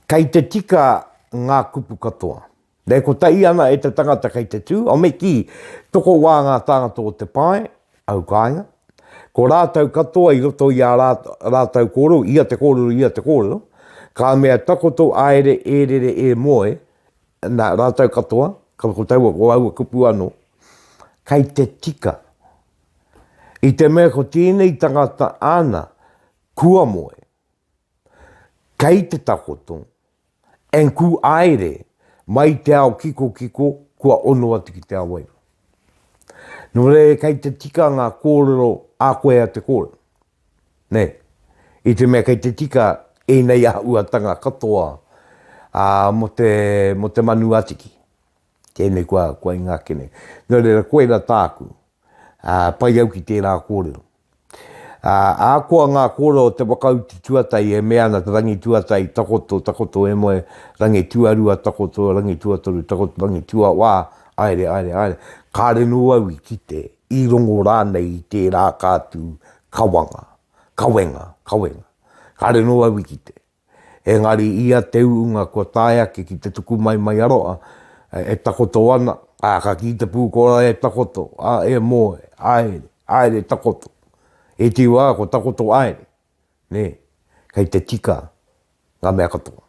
Kei te tika ngā kupu katoa. E kotahi ana e te tangata kei te tū, o me kī, toko wā ngā tāngata o te pae, au kāinga, ko rātou katoa i roto i ā rātou kōrero, ia te kōrero, ia te kōrero, ka mea takoto āere e rere e moe, Nā rātou katoa, ka, ko taua, ko aua kupu anō, kei te tika. I te mea ko tēnei tangata āna, kua moe, kei te takoto, and ku aere mai te ao kikokiko kua ono atu ki te awaira. Nō reira kei te tika ngā kōrero a koe a te kōrero. Nē, i te mea kei te tika ēnei āhuatanga katoa mō te manu atiki, tēnei kua ingake nei. Nō reira, koirā tāku, pai au ki tērā kōrero. Ahakoa ngā kōrero o te whakautu tuatahi e mea ana te rangi tuatahi takoto, takoto e moe, rangi tuarua takoto, rangi tuatoru takoto, rangi tuawā, aere, aere, aere, kāre nō au i kite i rongo rānei i tērā ka tū, kawanga, kawenga, kawenga. Kāre nō au i kite. Engari ia te uunga kua tae ake ki te tuku mai mai a roa, e takoto ana, ā, ka kī te pūkōrā e takoto, ā, e moe, aere, aere takoto. Ētehi wā ko takoto aere, nē, kei te tika ngā mea katoa,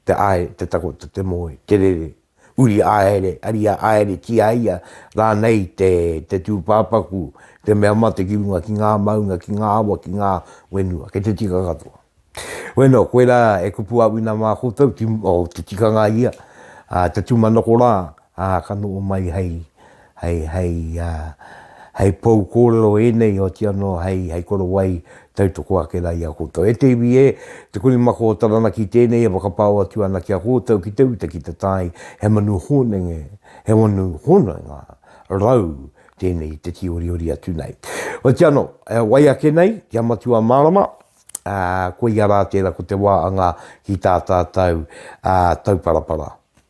te āe, te takoto, te moe, te rere, uri ā-ere, ariā ā-ere, kī a ia, rānei te, te tūpāpaku, te mea mate ki runga ki ngā maunga, ki ngā awa, ki ngā whenua, kei te tika katoa. Bueno, koirā e kupu a Wina mā koutou, ti, oh, te tikanga ia, ā, te tūmanako rā, Ā, ka noho mai hei, hei, hei, ā, hei pou kōrero ēnei, oati anō hei, hei korowai tautoko ake rā i a koutou. E te iwi ē, te Kurimako o Taranaki tēnei e whakapao atu ana ki a koutou ki te uta, ki te tae, he manu hōnenge, he manu hononga rau tēnei i te tīoriori atu nei. Oati anō, e wai ake nei ki a Matua Mārama, ā, koia rā tērā ko te wā anga ki tā tātou, ā, tauparapara.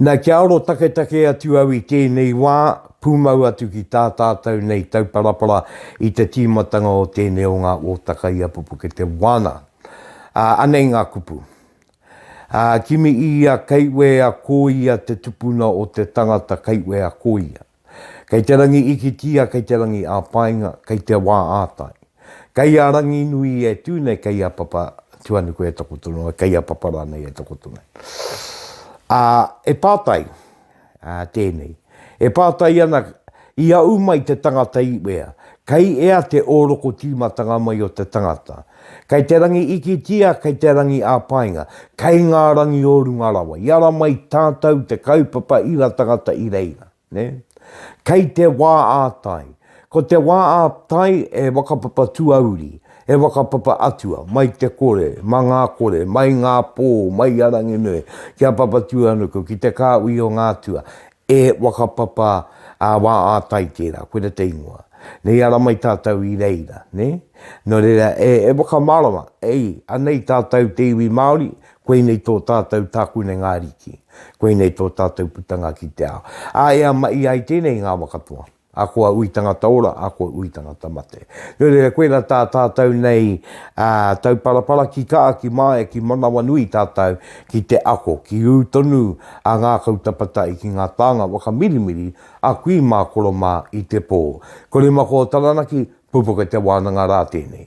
Na kia aro taketake atu au i tēnei wā, pūmau atu ki tā tātou nei tauparapara i te tīmatanga o tēnei o ngā ōtaka i a Pupukete Wana. Ā, anei ngā kupu. Ā, kimi i ia kaiuea ko ia te tupuna o te tangata kaiuea ko ia. Kei te rangi ikitia, kei te rangi ā-painga, kei te wā ā-tai. Kei a Ranginui e tū nei, kei a Papa Tuanuku e takoto nei, kei a Papa rānei e takoto nei. Ā, e pātai, ā, tēnei, e pātai ana, i aʻu mai te tangata iwea, kei ea te ōroko tīmatanga mai o te tangata? Kei te rangi ikitia, kei te rangi ā-painga, kei ngā rangi o runga rawa, i ara mai tātou te kaupapa ira tangata i reira. Nē? Kei te wā ā-tai. Ko te wā ā-tai e whakapapa tuauri, e whakapapa atua, mai te kore, ma ngā kore, mai ngā pō, mai a Ranginui, ki a Papatūānuku, ki te kāhui o ngā atua. E whakapapa a wā ātai tērā, koira te ingoa. Nei ara mai tātou i reira, nē? Nō reira, e, e whakamārama, ei, anei tātou te iwi Māori, koinei tō tātou tākune ngā ariki, koinei tō tātou putanga ki te ao. Ā, e amaia ai tēnei i ngā waka toa. A kua ui tangata ora, a kua ui tangata mate. Nō reira, koirā tā tātou nei tauparapara ki kaa, ki māia, ki manawanui tātou ki te ako, ki ū tonu a ngākau tapatai ki ngā tānga whakamirimiri a kui mā koro mā i te pō. Ko Rimakō Taranaki, pupuka te wānanga rā tēnei.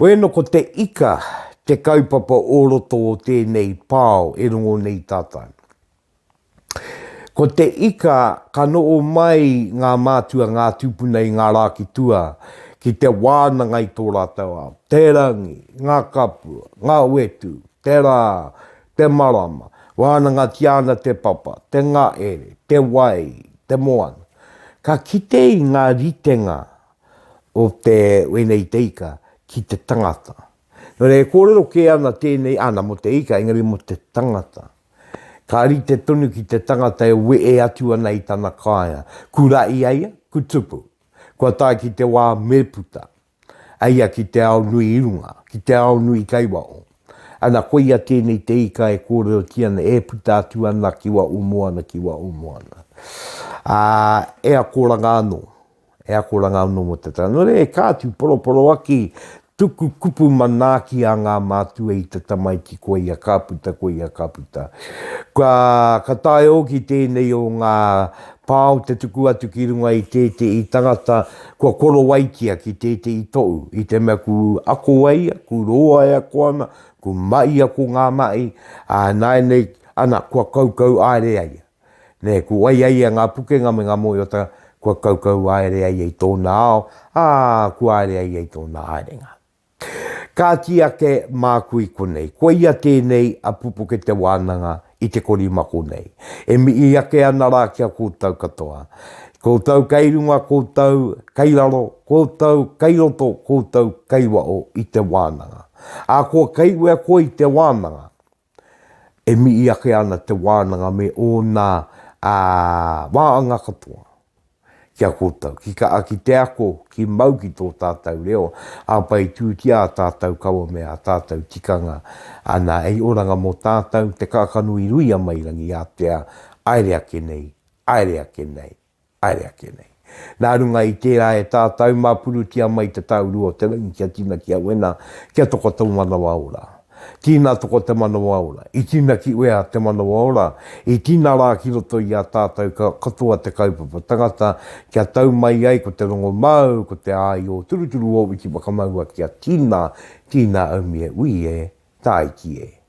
Wē no ko te ika te kaupapa o roto o tēnei pao e rongo nei tātou. Ko te ika ka noo mai ngā mātua ngā tūpuna i ngā rā ki tua ki te wānanga i tō rātou ao, te rangi, ngā kapua, ngā wetu, te rā, te marama, wānangatia ana te papa, te ngaere, te wai, te moana. Ka kite i ngā ritenga o te wēnei te ika ki te tangata. Nō reira e kōrero kē ana tēnei, ana mō te ika, engari mō te tangata. Ka rite tonu ki te tangata e wehe atu ana i tana kāea. Kura i a ia, ku tupu. Kua tae ki te wā me puta. A ia ki te ao nui i runga, ki te ao nui i Kaiwao. Ana koia tēnei te ika e kōrerotia ana e puta atu ana ki Waʻumoana, ki Waʻumoana. Ā, e akoranga anō. He akoranga anō mō te tangare, ka tūporoporoaki tuku kupu manaaki a ngā mātua i te tamaiti ko ia ka puta, ko ia ka puta. Kua, ka taea hoki tēnei o ngā pao te tuku atu ki runga i tētehi tangata kua korowaitia ki tētehi tohu, i te mea ku ako ai ia, ku roa e ako ana, ku mahi ako ngā mahi, ā, nāianei, ana, kua kaukau aere ai ia. Nē, kua wai ai ia ngā pukenga me ngā mōiotanga kua kaukau haere ai i tōna ao, ā, kua haere ai i tōna haerenga. Kāti ake māku i konei, koia tēnei a Pupuke Te Wānanga i te korimako nei, e mihi ake ana rā ki a koutou katoa. Koutou kei runga, koutou kei raro, koutou kei roto, koutou kei waho i te wānanga. Ahakoa kei wea koe i te wānanga, E mihi ake ana te wānanga me ōna waanga katoa ki a koutou, ki ka ki te ako, ki mau ki tō tātou reo, ā, whai tūtia ā tātou kawa me ā tātou tikanga. Ana, hei oranga mō tātou, te kākano i rui a Mairangi, ātea, aere ake nei, aere ake nei. Haere ake nei. Nā runga i tērā e tātau mā purutia mai te tāuru o te rangi kia tina ki a wena, kia toko tō manawa ora. Tina toko te manawa ora. I tina ki wea te manawa ora? I tina rā ki roto i a tātau katoa te kaupapa tangata kia tau mai ai ko te rongo māu, ko te āio turuturu o Wikimakamoua kia tina, tina aumie ui e, tāiki e.